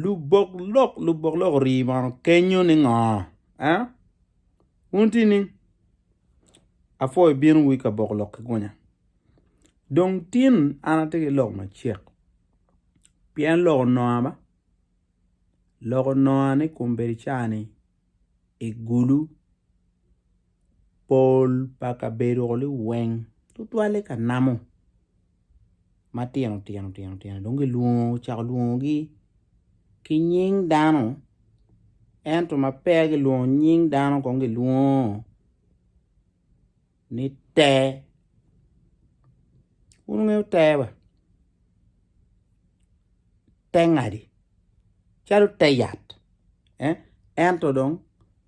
Lubok lok lubok lok ori bong kenyo ni ngo eh wun tye ni apwo ibino wa ka bok lok ki gunya dong tin an atye ki lok macek pien lok onongo ba lok onongo ni kombeddi cani. i gulu pol pa kabedoni weng tutwalle ka namo matino tino tino tino dong kicako lwongogi ki nying dano ento ma peya kilwongo nying dano kong kilwongo ni ter. Wun wungeyo ter ba? Ter ngadi? Calo ter yat. Ento dong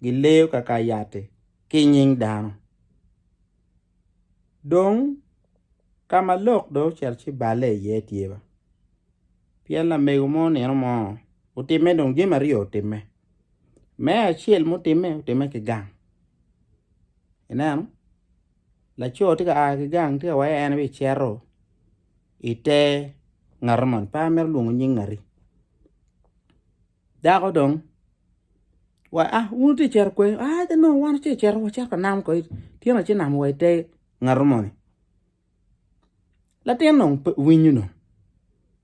gileyo kaka yat-ti ki i nying dano. Dong ka ma lok dong ocito ci balle iye tye ba? Pien lamego mo nino mo otimme dong jami aryo otimme. Me acel mutimme otimme ki gang ineno laco tye ka aa ki gang tye ka waco en aye cito i te ngat moni pe amito lwongo nying ngati dako dong wa a in itye ka cito kwo aa nongo wan watye ka cito wanam kwo tyene watye ka namo wa i te ngat moni. Latin dong pe owinyo dong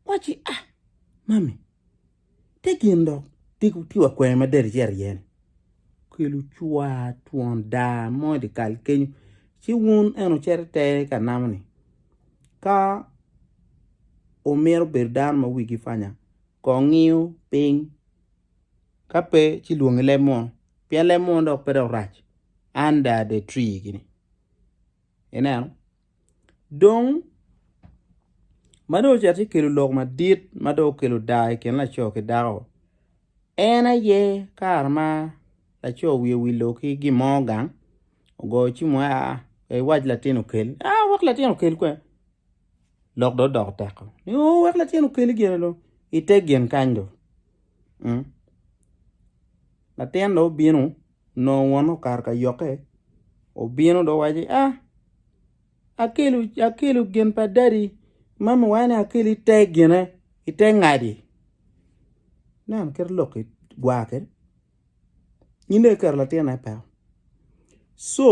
owacci ah mami te gin dok tye wa kwena ma del cito iye ni okelo cwar twon daa mo i dye kal kenyo ci wun eno cito ite ka namo ni ka wumito bedo dano ma wigi panya kong ngiyo piny ka pe ci lwongi leb munu pien leb munu dok pe dok rac under the tree gini. Ineno? Dong ma dong ocito ci kelo lok madit ma dong okelo daa i kin laco ki dako en aye kare ma laco wiye owilo ki gin mo gang ogoyo cim wai aa pe iwac latin okel aa wek latin okel kwe lok dong odoko tek oo ni oo wek latin okel gin dong ite gin kany dong latin dong obino Onongo wonne okato ka yokke, obino dong owaco ni, 'Aa, akelo, akelo gin pa dadi ma miwaye ni akel ite gine, ite ngadi. Nen kit lok-ki, gwar kede. Nyinge kiketo latinne i peko. Co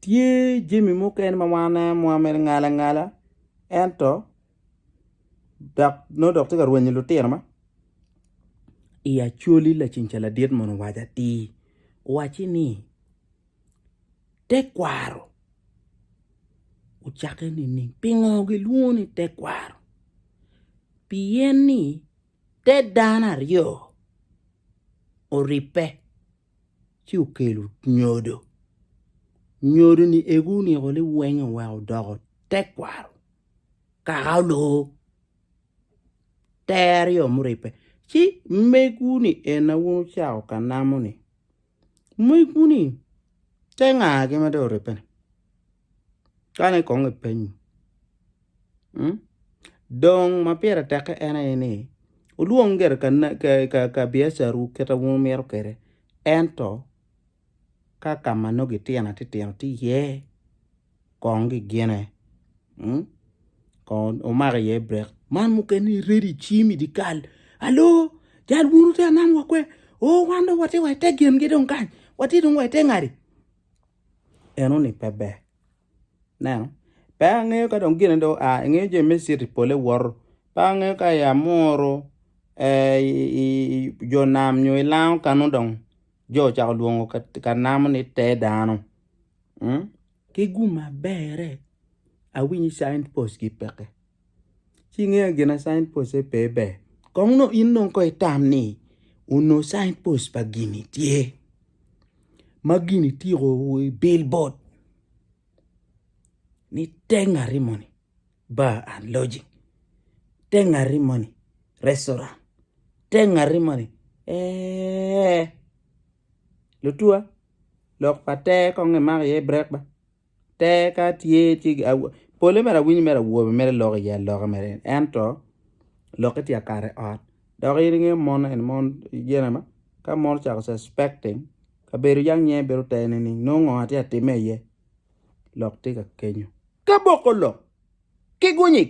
tye jami mukene ma wan aneno ma wamito ngala ngala ento. dok nongo dok tye ka rwenyo lutino ma i acoli laceng ca ladit mono owaco atir owacci ni tekwaro ocakke nining pingo gilwongo ni tekwaro pien ni te dano aryo oribbe. ci okelo nyodo. Nyodo-ni egu oniko liwenge oweko odoko tekwaro, kaka oloo ter aryo muribbe. Ci megwu-ni en aye wun wucako ka namo-ni, megwu-ni te nga-gi ma dong oribbe-ni? Kani kong epenyo. Dong ma pire tekke en aye ni, wulwong gire ka biacarwu kit ma wumito kwede, ento ka ka ma nongo gitino atitino tye iye, kong gigine, kong wumak iye brek. Man mukene iredo icim i dyekal, alo, jal bunu te anam wa kwe, oo wan dong watye wa i te gingi dong kany, watye dong wa i te ngati, enoni pe ber. Neno. Pe angeyo ka dong gine dong oa, ingeyo jami me citi pole woto. Pe angeyo ka i Amuru, i jo nam nyo i lango ka nongo dong jo ocako lwongo ka namo ni te dano. Ki gumma bere, awinyo i signpost gi peke. Ci ingeyo ni gin ma sign post aye pe ber. Kong nongo in nongo ko itam ni onongo sign post pa gini tye ma gini tiko wa i billboard ni te ngati moni bar and lodging te ngati moni restaurant te ngati moni eeh lutuwa lok pa te kong imak iye brek ba. Teka tye ci pole mere awinyo mere awobe mere loko iye aloka mere ento lokke tye akato i ot dok in ingeyo mon eni mon gin ama ka mon ocako suspecting kabedo yam nge bedo te ni nongo ngo atye ka timme iye lok tye ka kenyo ka boko lok ki gunyik.